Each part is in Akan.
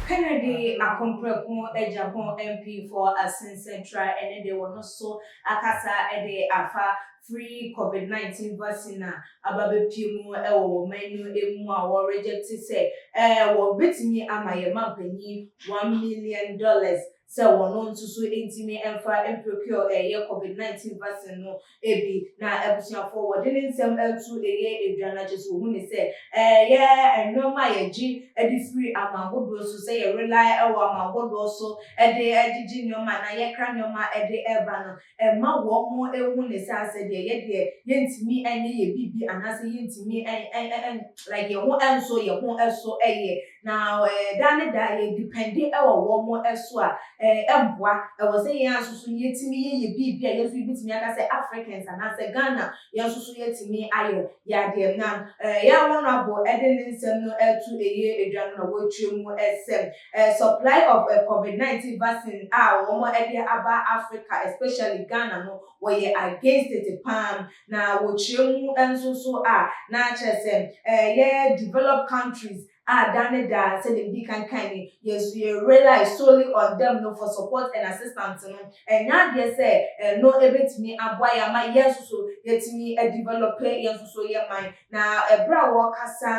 Kennedy akomprako agya ho mpeefo asensɛntra ne de wɔn so akasa de afa free covid 19 vaccine a aba bepue mu wɔ wɔ man no mu a wɔ rejecte sɛ wɔ betumi ama yɛ manpanyin one million dollars sɛ wɔn nso so ntumi mfa mprekuo ɛyɛ covid 19 vaccine no bi na abusuafoɔ wɔde ne nsɛm to ɛyɛ adwa na kyɛsɛ wɔhu ne sɛ ɛyɛ nnoɔma a yɛgye de firi aman hodoɔ so sɛ yɛ rely wɔ aman hodoɔ so de gyegye nnoɔma anaa yɛkra nnoɔma de ba no Ɛmma wɔnhu no sɛ asɛ deɛ yɛ deɛ yɛntumi nyɛ yɛn biribi anaasɛ yɛntumi like yɛn ho nsɔ yɛn ho so yɛ. Na daa ne daa yɛ depende wɔ wɔn so a, ɛmmoa. Ɛwɔ sɛ yɛn ara nso so yɛtumi yɛ yɛn biribi a yɛn nso yɛbɛtumi aka sɛ Africans anaasɛ Ghana yɛn nso so yɛtumi ayɛ yɛ adeɛ. Na yɛn Honourable de ne nsɛm no ɛreto ɛyɛ dwa no na wakyerɛ mu sɛ, A supply of a covid 19 vaccine a wɔn de aba Africa especially Ghana no wɔyɛ against it paa na wɔ kyerɛ mu nso so a na kyerɛ sɛ yɛ developed countries a da ne da sɛdeɛ medi kan kan ni yɛ nso yɛ rely solely on them no for support and assistance no ɛnyɛ adeɛ sɛ ɛno ɛbɛtumi aboa yɛ ama yɛ nso so yɛtumi develop yɛ nso so yɛ man Na ɛberɛ a wɔrekasa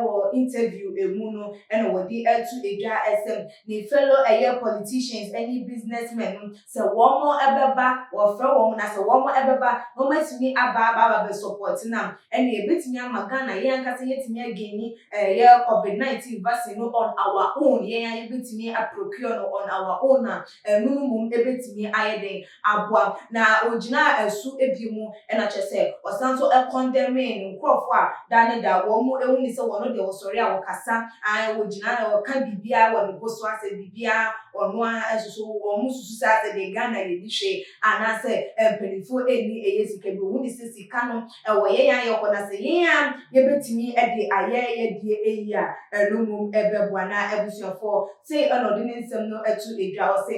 wɔ interview mu no na wɔde ato dwa sɛ ne fellow ɛyɛ politicians ne business men no sɛ wɔn bɛba, wɔfrɛ wɔn na sɛ wɔn bɛba na wɔn atumi aba aba aba bɛ support no a ɛneɛ ɛbɛtumi ama Ghana yɛn ankasa yɛatumi againi ɛyɛ covid 19 vaccine no on our own, yɛn ara yɛbɛtumi a procure no on our own a ɛno no mmom bɛtumi ayɛ dɛn aboa, na ogyinaa asu abien mu, ɛna kyerɛ sɛ, ɔsan nso kɔndɛmee ne nkurɔfoɔ a da ne da wɔn hu ne sɛ wɔn deɛ wɔsɔre a wɔkasa, ae, wɔgyina na wɔka biribiara wɔ ne bo so asɛ biribiara ɔno ara nsoso, wɔn susu sɛ asɛ deɛ Ghana yɛnni hwee anaasɛ mpaninfoɔ ɛnni ɛyɛ sika bi, wɔhu ne sɛ sika no ɛwɔ yɛn a yɛkɔ na sɛ yɛn ara yɛbɛtumi de ayɛ yɛdeɛ ɛyi a ɛno mmom ɛbɛboa, na abusuafoɔ, sei ɛna ɔde ne nsɛm no to dwa, ɔse.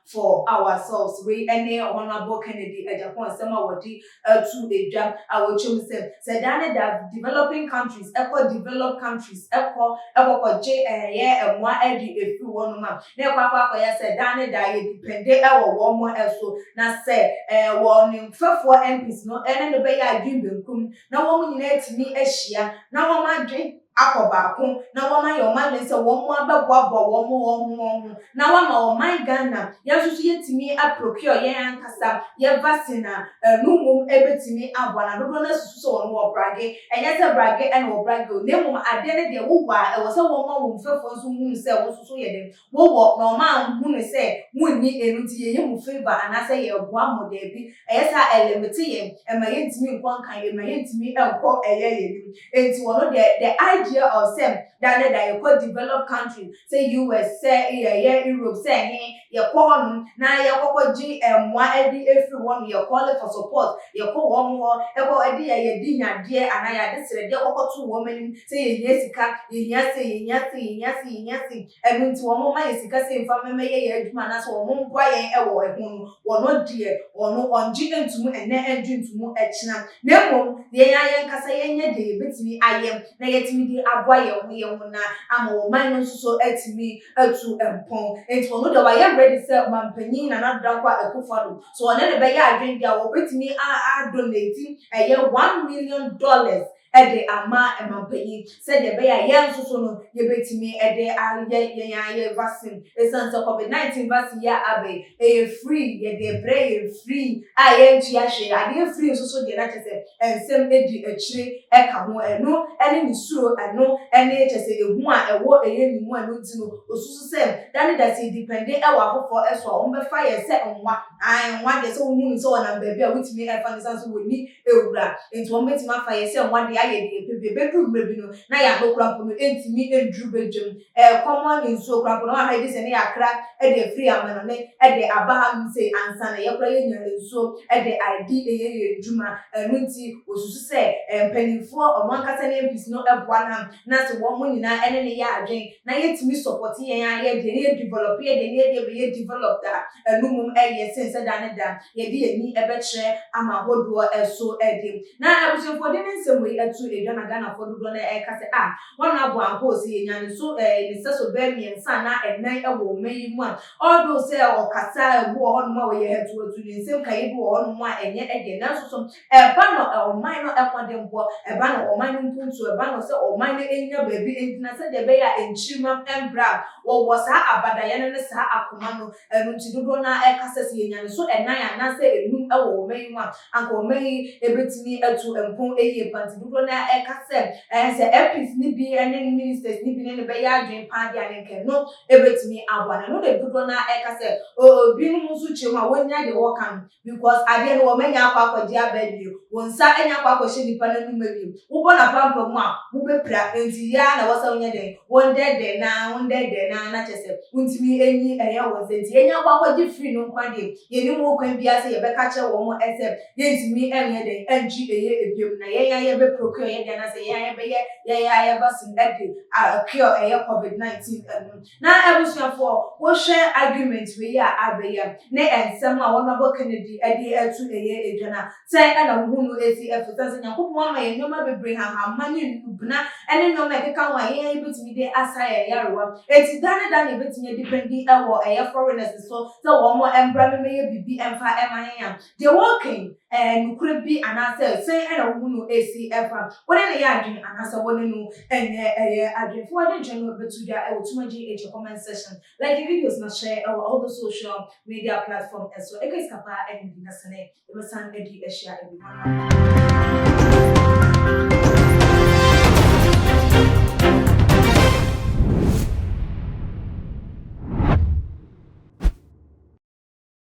For Ourselves, Wei ne Honourable Kennedy Agyapong nsɛm a wɔde ato dwa a wɔkyerɛ mu sɛ, sɛ daa ne daa developing countries kɔ developed countries kɔ kɔkɔgye ɛyɛ mmoa de firi hɔnom a, na ɛkɔ akɔ akɔyɛ sɛ daa ne daa yɛ depende wɔ wɔn so, na sɛ wɔn mfɛfoɔ MPs no ne no bɛyɛ adwene benkum na wɔn nyinaa atumi ahyia na wɔn adwene akɔ baako na wɔn ayɛ wɔn adwene sɛ wɔn abɛboaboa wɔn wɔn ho wɔn ho na wɔama ɔman Ghana yɛn nso so yɛtumi a procure yɛn ankasa yɛ vaccine a ɛno mmom ɛbɛtumi aboa na dodoɔ no asusu sɛ wɔn wɔ brage ɛnyɛ sɛ brage ɛna wɔ brage o na mmom adeɛ no deɛ wowɔ a ɛwɔ sɛ wɔma wɔn mfɛfoɔ nso hunu sɛ wɔn nso so yɛ dɛn Wowɔ, na ɔma nhu no sɛ wonni ɛno nti yɛyɛ mu favour anaasɛ yɛboa mo, daabi, ɛyɛ sɛ a ɛlimite yɛn, ɛma yɛntumi nkɔ nkan, ɛma yɛntumi nkɔ ɛyɛ yɛn anim. Ɛnti wɔno deɛ the idea of sɛ da ne da yɛkɔ developed country sɛ US, sɛ ɛyɛ Europe, sɛ ɛhe, yɛkɔ hɔ nom na yɛkɔkɔ gye mmoa de afiri hɔ nom, yɛ calling for support, yɛkɔ wɔn hɔ kɔ de yɛ yɛde hiadeɛ anaa yɛade srɛdeɛ kɔkɔto wɔn anim, Sɛ yɛhia sika, yɛhia sei, yɛhia sei, yɛhia sei, yɛhia sei, ɛno nti wɔn mma yɛn sika sɛ yɛmfa mmɛyɛ yɛn adwuma anaasɛ wɔn mmoa yɛn wɔ ɛho no, wɔn deɛ, wɔn wɔngye ntomu ɛnnɛ ɛngye ntomu ɛkyena. Na mmom yɛn ara yɛn ankasa yɛnyɛ deɛ yɛbɛtumi ayɛ na yɛatumi de aboa yɛn ho yɛn ho na ama wɔn man no nso so atumi atu mpɔn. Ɛnti wɔn deɛ wɔayɛ ready sɛ Ɔmanpanin Nana Addo Dankwa Akuffo Addo, sɛ wɔne no bɛyɛ adwene deɛ a wɔbɛtumi a a donate ɛyɛ one million dollars de ama ɛma panyin sɛdeɛ ɛbɛyɛ a yɛn nso so no yɛbɛtumi de ayɛ yɛn ara yɛn vaccine. Ɛsiane sɛ covid 19 vaccine yi a aba yi, ɛyɛ free, yɛde rebrɛ yɛn free a yɛntua hwee. Adeɛ free nso so deɛ na kyerɛ sɛ nsɛm di akyire ka ho. Ɛno ne ne suro, ɛno ne kyerɛ sɛ ɛhu a ɛwɔ yɛn ne mu, ɛno nti no ɔsusu sɛ da ne da sɛ yɛdipɛnde wɔ afoforɔ so a wɔbɛfa yɛn sɛ nwa. Aane nwa deɛ sɛ wohunu no sɛ ɔnam baabi a wotumi fa no ɛsiane sɛ wɔnni Ewura, enti wɔn betumi afa yɛn sɛ mmoa de ayɛ deɛ yɛpɛ bi. Ebeduru mmerɛ bi no, na yɛn ahohora mpo no ntumi nduru badwam. Ɛrekɔm ara ne nsuo koraa mpo no, wɔn a yɛgye sɛ na yɛakra de afiri amanɔne de aba hanom sei ansa na yɛkora yɛnya nsuo de adi yɛ yɛn dwuma. Ɛno nti, wɔsusu sɛ mpaninfoɔ, wɔn ankasa ne MPs no boa no a, na sɛ wɔn nyinaa ne no yɛ adwene na yɛtumi sɔpɔte yɛn ara yɛn deɛ na yɛ develop yɛn deɛ na yɛn deɛ bɛyɛ developed a, ɛno mmom yɛ sene sɛ da ne da yɛde yɛn ani bɛkyerɛ ama hodoɔ so de. Na abusuafoɔ de ne nsɛm wei to dwa na Ghanafoɔ dodoɔ no ara ka sɛ, ah, wɔn abɔ ahoo sɛ yɛnya ne so ne sɛso bɛyɛ mmiɛnsa anaa nnan wɔ ɔman yi mu a, although sɛ ɔkasa a ebi wɔ hɔnom a ɔyɛ hatuhatu, ne nsɛm kaeɛ bi wɔ hɔnom a ɛnyɛ dɛ, nanso so ɛba no ɔman no mmɔdenbɔ, ɛba no ɔman no mpuntuo, ɛba no sɛ ɔman no nya baabi ntina sɛdeɛ ɛbɛyɛ a nkyirimma mmra a, wɔwɔ saa abadaeɛ no ne saa akoma no Ɛno nti dodoɔ no ara ɛka sɛ, sɛ yɛnya ne so ɛnan anaasɛ ɛnum wɔ ɔman yi mu a, anka ɔman yi bɛtumi atu mpɔn yie paa. Nti dodoɔ no ara ɛka sɛ, ɛɛ sɛ MPs no bi ne ne ministers no bi ne no bɛyɛ adwene paa deɛ a, na anka ɛno bɛtumi aboa no. Ɛno na dodoɔ no ara ɛka sɛ, oo binom nso kyerɛ mu a wɔnnya deɛ wɔreka no, Because adeɛ no wɔmanya akɔ akɔgye aba bio, wo nsa anya akɔ akɔhyɛ nnipa no anom bio, wobɔ no apampamu a, wobɛpira, enti yɛ ara na ɛwɔ sɛ wonyɛ dɛn? Wondɛdɛnaa, wondɛdɛnaa, na kyerɛ sɛ wontumi nyi ɛnyɛ wo nsa, enti yɛanya akɔ akɔgye firi no nko ara deɛ, yɛnnim ho kwan biara sɛ yɛbɛka akyerɛ wɔn sɛ yɛntumi nyɛ dɛn? Ntwi ɛyɛ bio, na yɛn ara yɛbɛ procure yɛdeɛ anaasɛ yɛn ara yɛbɛyɛ yɛn ara yɛn vaccine de a cure ɛyɛ Covid 19 no. Na abusuafoɔ wohwɛ argument wei a abɛyɛ ne nsɛm a Honourable Kennedy de ato ɛyɛ dwa no a, sɛn na wohu no si? Ɛfiri sɛ Nyankopɔn ama yɛn nnoɔma bebree, nhahamma ne nnubena ne nnoɔma a ɛkeka ho a yɛn ara yɛbɛtumi de asa yɛn yarewa. Enti da ne da na yɛbɛtumi adipendi wɔ ɛyɛ foreigners so sɛ wɔn mmra mmɛyɛ biribi mfa mma yɛn a, Deɛ wɔreka yi, ɛyɛ nokorɛ bi anaasɛ sɛn na wohu no ɛsi fa? Wo ne no yɛ adwene anaasɛ wo ne no nyɛ ɛyɛ adwene? Fa w'adwenkyerɛ no bɛto dwa wɔ Tumagye Agya comment section. Like videos na share wɔ all the social media platform so. Ɛka sika paa ɛne medi na sɛnɛ yɛbɛsan adi ahyia ɛbi mu.